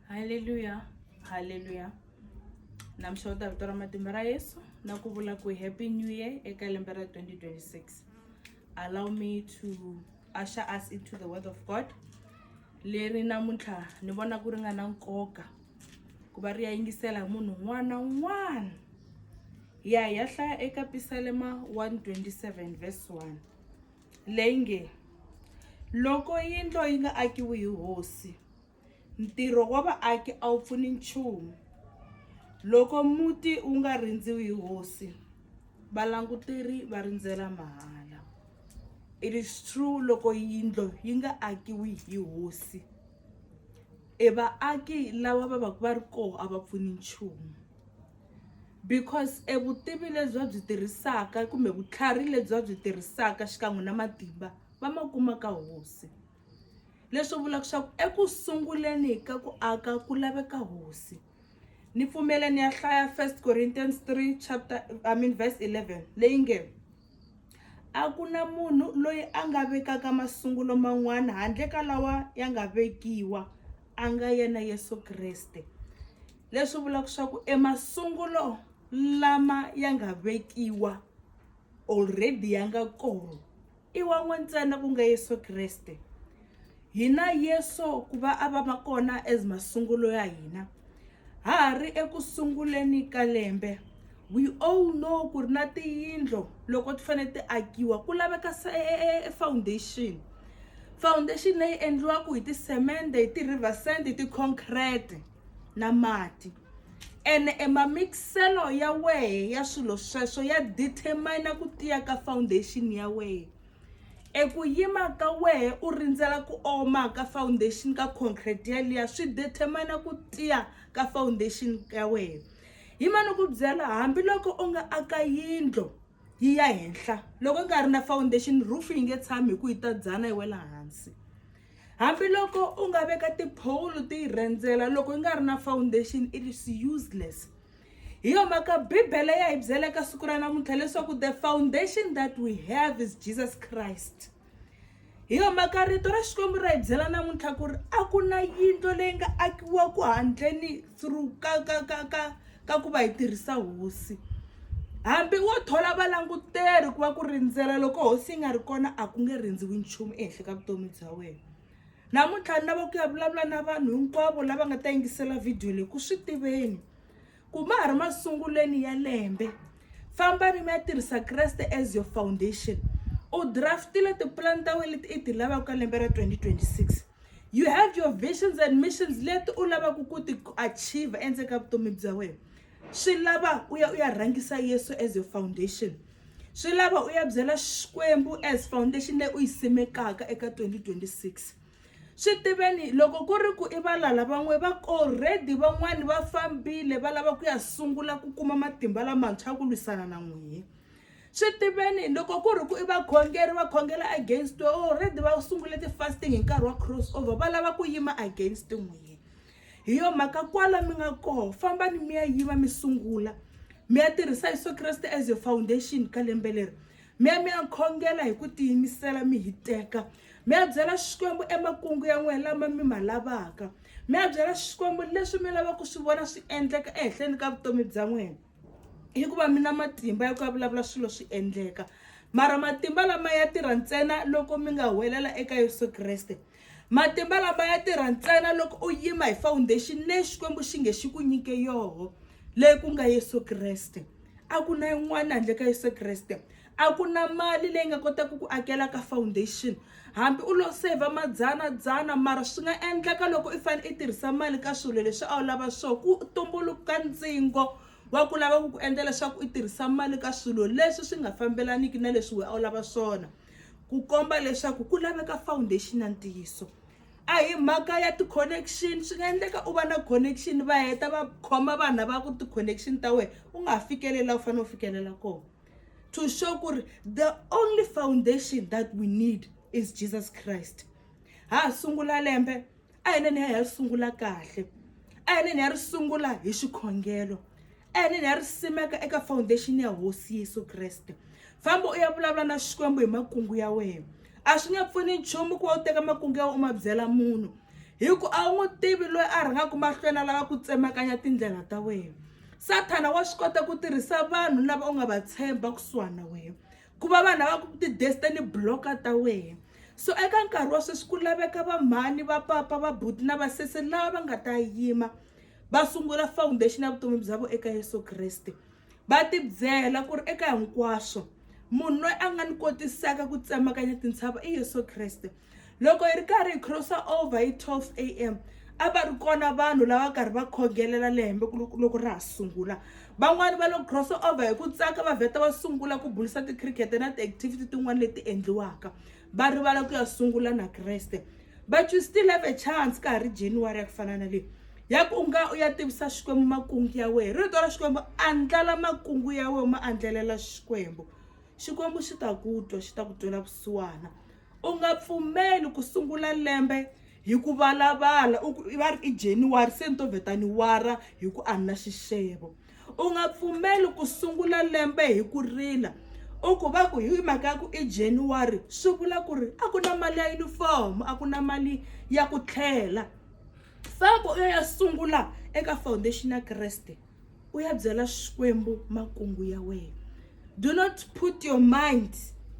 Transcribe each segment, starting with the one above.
haleluya haleluya namxota vito ra matimba ra yesu na ku vula ku happy new year eka lembe ra 2026 allow me to usher us into the word of god leri namuntlha ni vona ku ri nga na nkoka ku va ri ya yingisela hi munhu un'wana na un'wana ya hi ya hlaya eka pisalema 127 verse 1 leyi nge, Loko yindlo yi nga akiwi hi hosi, ntirho wa vaaki a wu pfuni nchumu. Loko muti wu nga rindziwi hi hosi, valanguteri va rindzela mahala. It is true loko yindlo yi nga akiwi hi hosi, e vaaki lava va va ka va ri kona a va pfuni nchumu. because e vutivi lebyi va byi tirhisaka kumbe vutlhari lebyi va byi tirhisaka xikan'we na matimba va ma kuma ka hosi leswi vulaka leswaku eku sunguleni ka ku aka ku laveka hosi ni pfumela ni ya hlaya first corinthians 3 chapter i mean verse 11 leyi nge a ku na munhu loyi a nga vekaka masungulo man'wana handle ka lawa ya nga vekiwa a nga yena yesu kreste leswi vulaka swa ku emasungulo lama ya nga vekiwa already ya nga kona i wa n'we ntsena ku nga yesu kreste hina yesu ku va a va ma kona as masungulo ya hina ha ha ri eku sunguleni ka lembe we all know ku ri na tiyindlo loko ti fanele ti akiwa ku laveka foundation foundation leyi endliwaka hi tisemende hi ti-river sand hi ti-concrete na mati ene e mamikiselo ya wehe ya swilo sweswo ya determine ku tiya ka foundation ya wehe eku yima ka wehe u rindzela ku oma ka foundation ka concrete yaliya swi determine ku tiya ka foundation ya wehe hi ma ni ku byela hambiloko u nga aka yindlo yi ya henhla loko u nga ri na foundation roof yi nge tshami hi ku yi ta dzana yi wela hansi Hambiloko u nga veka tiphowulo ti yi rhendzela loko yi nga ri na foundation it is useless. Hi yo mhaka Bibele ya hi byela eka siku ra namuntlha leswaku the foundation that we have is Jesus Christ. Hi yo mhaka rito ra Xikwembu ra hi byela namuntlha ku ri a ku na yindlo leyi nga akiwa ku handleni through ka ka ka ka ka ku va hi tirhisa hosi hambi wo thola valanguteri ku va ku rindzela loko hosi yi nga ri kona a ku nge rindziwi nchumu ehenhla ka vutomi bya wena namuntlha ni lava ku ya vulavula na vanhu hinkwavo lava nga ta yingisela vhidiyo leyi ku swi tiveni ku ma ha ri masungulweni ya lembe fambani mi ya tirhisa kreste as your foundation u draftile tipulani ta wena leti i ti lavaka ka lembe ra 2026 you have your visions and missions leti u lavaka ku ti achieve endzeni ka vutomi bya wena swi lava u ya u ya rhangisa yesu as your foundation swi lava u ya byela xikwembu as foundation leyi u yi simekaka eka 2026 swi tiveni loko ku ri ku i valala van'we va already van'wani va fambile va lava ku ya sungula ku kuma matimba lamantshwa ku lwisana na n'wina swi tiveni loko ku ri ku i vakhongeri va khongela against we already va sungule ti-fasting hi nkarhi wa cross over va lava ku yima against n'wini hi yo mhaka kwala mi nga koho fambani mi ya yima mi sungula mi ya tirhisa yesu kreste as your foundation ka lembe leri mi ya mi ya khongela hi ku tiyimisela mi hiteka mi ya byela xikwembu emakungu ya n'wina lama mi ma lavaka mi ya byela xikwembu leswi mi lavaka ku swi vona swi endleka ehenhleni ka vutomi bya n'wina hikuva mi na matimba ya ku ya vulavula swilo swi endleka mara matimba lama ya tirha ntsena loko mi nga huwelela eka yesu kreste matimba lama ya tirha ntsena loko u yima hi foundation leyi xikwembu xi nge xi ku nyike yoho leyi ku nga yesu kreste a ku na yin'wana handle ka yesu kreste A ku na mali leyi nga kotaka ku akela ka foundation. Hambi u lo seyivha madzana-dzana mara swi nga endleka loko i fanele i tirhisa mali ka swilo leswi a wu lava swona, ku tumbuluka ntsengo wa ku lava ku ku endla leswaku i tirhisa mali ka swilo leswi swi nga fambelaniki na leswi wena a wu lava swona. Ku komba leswaku ku laveka foundation ya ntiyiso. A hi mhaka ya ti-connection, swi nga endleka u va na connection va heta va khoma vanhu lava ku ri ti-connection ta wena, u nga ha fikeleli laha u fanele u fikelela kona. to show ku ri the only foundation that we need is jesus christ ha ha sungula lembe a hi neni ya hi ya ri sungula kahle a hi neni ya ri sungula hi xikhongelo a hi neni ya ri simeka eka foundation ya hosi yesu kreste famba u ya vulavula na xikwembu hi makungu ya wena a swi nge pfuni nchumu ku va u teka makungu ya wena u ma byela munhu hi ku a wu n'wi tivi loyi a rhangaka mahlweni a lava ku tsemakanya tindlela ta wena Sathana wa swi kota ku tirhisa vanhu lava u nga va tshemba kusuhana na wena ku va vanhu lava ti-destiny blocker ta wena so eka nkarhi wa sweswi ku laveka vamhani va papa va buti na vasesi lava va nga ta yima va sungula foundation ya vutomi bya vona eka yesu kreste va tibyela ku ri eka hinkwaswo munhu loyi a nga ni kotisaka ku tsemakanya tintshava i yesu kreste loko hi ri karhi hi crossa over hi 12 am a va ri kona vanhu lava karhi va khongelela lembe loko ra ha sungula van'wani va lo cross over hi ku tsaka va vheta va sungula ku bulisa ti-cricket na ti-activity tin'wani leti endliwaka va rivala ku ya sungula na kreste but you still have a chance ka ha ri january ya ku fana na leyi ya ku u nga u ya tivisa xikwembu makungu ya wehe rito ra xikwembu andlala makungu ya wehe ma andlelela xikwembu xikwembu xi ta ku twa xi ta ku twela vusiwana U nga pfumeli ku sungula lembe hi ku valavala u ku va ri i January se ni to vheta ni wara hi ku a ni na xixevo. U nga pfumeli ku sungula lembe hi ku rila u ku va ku hi mhaka ya ku i January swi vula ku ri a ku na mali ya yunifomo a ku na mali ya ku tlhela. Famba u ya ya sungula eka foundation ya Kreste. u ya byela xikwembu makungu ya wena do not put your mind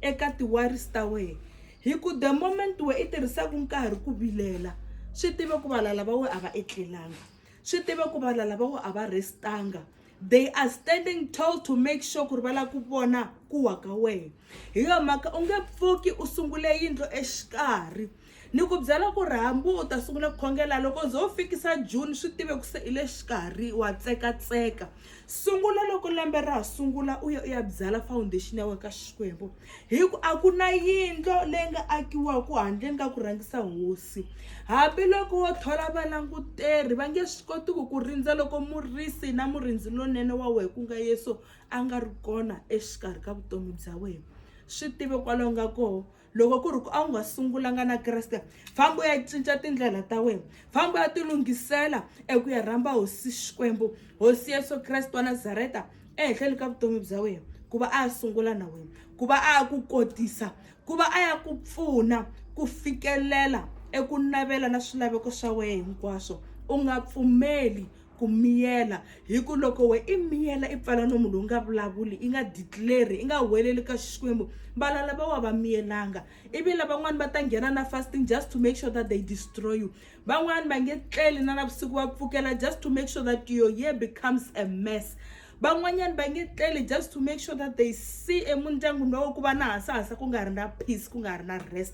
eka ti-worries ta wena hi ku the moment we i tirhisaka nkarhi ku vilela swi tive ku valala va we a va etlelanga swi tive ku valala va we a va restanga they are standing tall to make sure ku ri va lava ku vona ku wa ka wena hi yo mhaka u nge pfuki u sungule yindlo exikarhi Ni ku byela ku ri hambi u ta sungula ku khongela loko u ze u fikisa June swi tive ku se i le xikarhi wa tsekatseka sungula loko lembe ra ha sungula u ya u ya byala foundation ya wena ka Xikwembu hi ku a ku na yindlo leyi nga akiwaka handleni ka ku rhangisa hosi hambiloko wo thola valanguteri va nge swi koti ku ku rindza loko murisi na murindzi lonene wa wena ku nga Yesu a nga ri kona exikarhi ka vutomi bya wena swi tive kwalaho nga koho loko ku ri ku a wu nga sungulanga na kreste famba u ya cinca tindlela ta wena famba u ya tilunghisela eku ya rhamba hosi xikwembu hosi yesu kreste wa nazareta ehenhleni ka vutomi bya wena ku va a ya sungula na wena ku va a ya ku kotisa ku va a ya ku pfuna ku fikelela eku navela na swilaveko swa wena hinkwaswo u nga pfumeli ku miyela hi ku loko we i miyela i pfala nomu lowu nga vulavuli i nga declare i nga huweleli ka xikwembu vala lava wa va miyelanga ivi lavan'wani va ta nghena na fasting just to make sure that they destroy you van'wani va nge tleli na navusiku va pfukela just to make sure that your year becomes a mess van'wanyana va nge tleli just to make sure that they see emundyangwini lowo ku va na hasahasa ku nga ri na peace ku nga ri na rest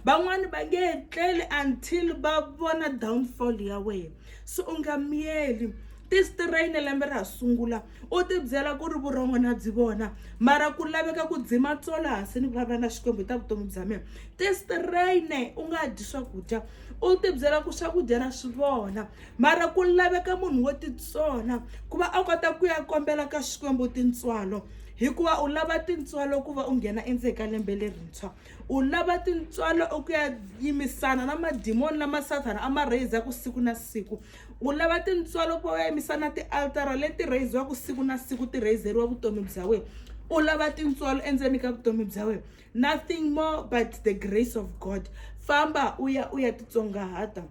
van'wani va nge tleli until va vona downfall ya wena so u nga miyeli tistrayine lembe ra ha sungula u tibyela ku ri vurhongo na byi vona mara ku laveka ku dzima tsolo hansi ni vulavula na xikwembu hi ta vutomi bya mina tistrayine u nga dyi swakudya u tibyela ku swakudya na swi vona mara ku laveka munhu wo titsona ku va a kota ku ya kombela ka xikwembu tintswalo hikuva u lava tintswalo ku va u nghena endzeni ka lembe lerintshwa u lava tintswalo u ku ya yimisana na madimoni lama sathana a ma rheyizaka siku na siku u lava tintswalo ku va u ya yimisana na tialtara leti rheyiziwaka siku na siku ti rheyizeriwa vutomi bya wena u lava tintswalo endzeni ka vutomi bya wena nothing more but the grace of god famba u ya u ya titsongahata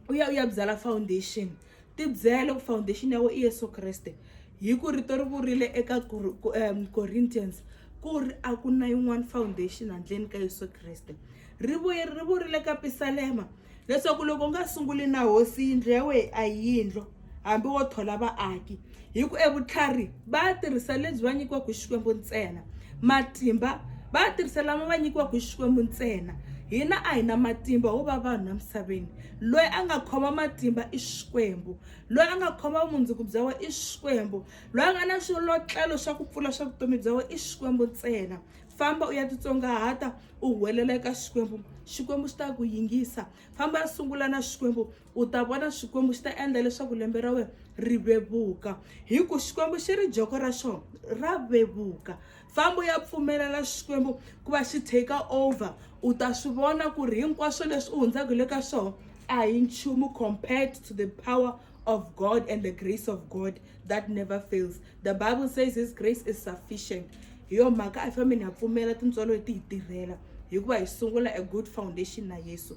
u ya u ya byala foundation tibyele ku foundation ya wena i yesu kreste hi ku rito ri vurile eka um, corinthians ku ri a ku na yin'wana foundation handleni ka yesu kreste ri vuye ri vurile ka pisalema leswaku loko u nga sunguli na hosi yindlu ya wena a yi yindlu hambi wo thola vaaki hi ku evutlhari va ya tirhisa lebyi va nyikiwaka hi xikwembu ntsena matimba va ya tirhisa lama va nyikiwaka hi xikwembu ntsena hina a hi na matimba ho va vanhu emisaveni loyi a nga khoma matimba i xikwembu loyi a nga khoma vumundzuku bya wena i xikwembu loyi a nga na swilotlelo swa ku pfula swa vutomi bya wena i xikwembu ntsena famba u ya titsongahata u huwelela eka xikwembu xikwembu xi ta ku yingisa famba ya sungula na xikwembu u ta vona xikwembu xi ta endla leswaku lembe ra wena ri vevuka hi ku xikwembu xi ri joko ra xona ra vevuka fambo ya pfumelela xikwembu ku va xi take over u ta swi vona ku ri hinkwaswo leswi u hundzaka le ka swona a hi nchumu compared to the power of god and the grace of god that never fails the bible says his grace is sufficient hi yo mhaka a hi fambeni ha pfumela tintswalo leti hi tirhela hikuva hi sungula a good foundation na yesu